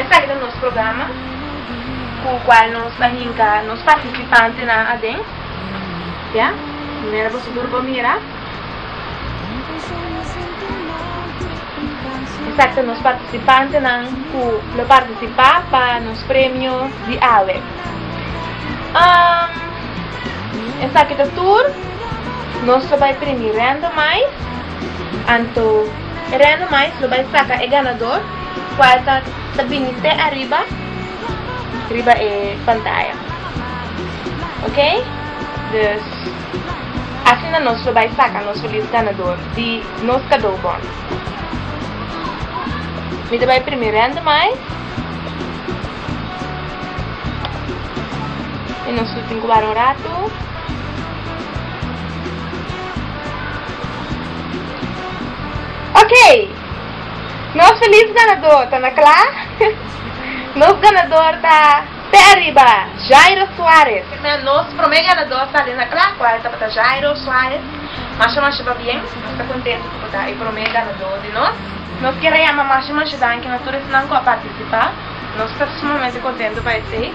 Esaki ta nos programa ku kual nos ta hinka nos partisipantenan aden. Ya, manera boso tur por mira. Esaki ta nos partisipantenan ku lo partisipá pa nos premio di awe. Esaki ta tur nos lo bai primi rènda mais. Anto rènda mais lo bai saka e ganador. Puerta ta bini te ariba riba e pantaya ok dus asina nos lo bai saka nos felis ganador di nos kadou bon mi ta bai primi rende mai i nos lo tin ku wara un ratu ok. Nos felis ganador ta na kla? Nos ganador ta p'e ariba, Jairo Suarez. Kinder nos prome ganador sali na kla kual tabata Jairo Suarez. Masha masha pabien, nos ta kontentu ku bo ta e prome ganador di nos. Nos kere yama masha masha danki na tur esnan ku a partisipa, nos ta sumamente kontentu pa esei.